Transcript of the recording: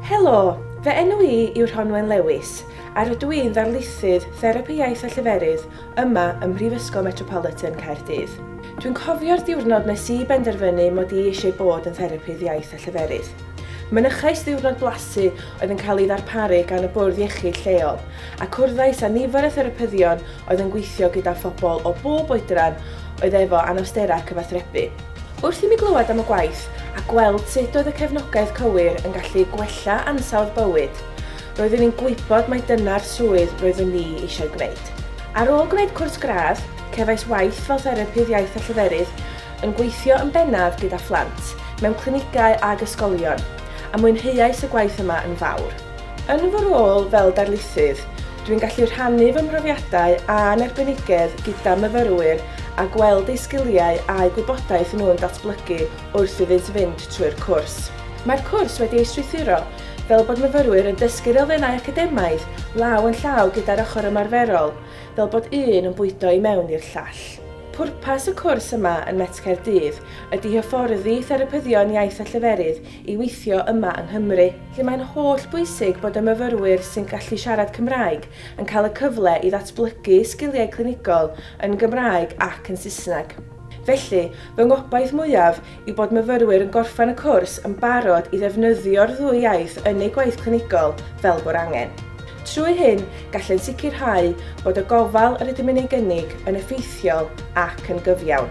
Helo! Fy enw i yw Rhonwen Lewis a rydw i'n ddarlithydd Therapi Iaith a Lleferydd yma ym Mhrifysgol Metropolitan Caerdydd. Dwi'n cofio'r diwrnod nes i benderfynu mod i eisiau bod yn Therapydd Iaith a Lleferydd. Mynychais ddiwrnod blasu oedd yn cael ei ddarparu gan y bwrdd iechyd lleol a cwrddais â nifer o therapyddion oedd yn gweithio gyda phobl o bob oedran oedd efo anawsterau cyfathrebu. Wrth i mi glywed am y gwaith a gweld sut oedd y cefnogaeth cywir yn gallu gwella ansawdd bywyd, roeddwn i'n gwybod mai dyna'r swydd roeddwn ni eisiau gwneud. Ar ôl gwneud cwrs gradd, cefais waith fel therapydd iaith a lleferydd, yn gweithio yn bennaf gyda phlant, mewn clinigau ag ysgolion, a mwynheuais y gwaith yma yn fawr. Yn fy rôl fel darlithydd, dwi'n gallu rhannu fy mhrofiadau a'n arbenigedd gyda myfyrwyr a gweld eu sgiliau a'u gwybodaeth nhw'n datblygu wrth iddynt fynd trwy'r cwrs. Mae'r cwrs wedi ei strwythuro fel bod myfyrwyr yn dysgu'r elfennau academaidd law yn llaw gyda'r ochr ymarferol, fel bod un yn bwydo i mewn i'r llall. Pwrpas y cwrs yma yn Met Caerdydd ydy hyfforddi therapyddion iaith a lleferydd i weithio yma yng Nghymru, lle mae'n holl bwysig bod y myfyrwyr sy'n gallu siarad Cymraeg yn cael y cyfle i ddatblygu sgiliau clinigol yn Gymraeg ac yn Saesneg. Felly, fy ngobaith mwyaf yw bod myfyrwyr yn gorffen y cwrs yn barod i ddefnyddio'r ddwy iaith yn eu gwaith clinigol fel bo'r angen. Trwy hyn, gallent sicrhau bod y gofal yr ydym yn ei gynnig yn effeithiol ac yn gyfiawn.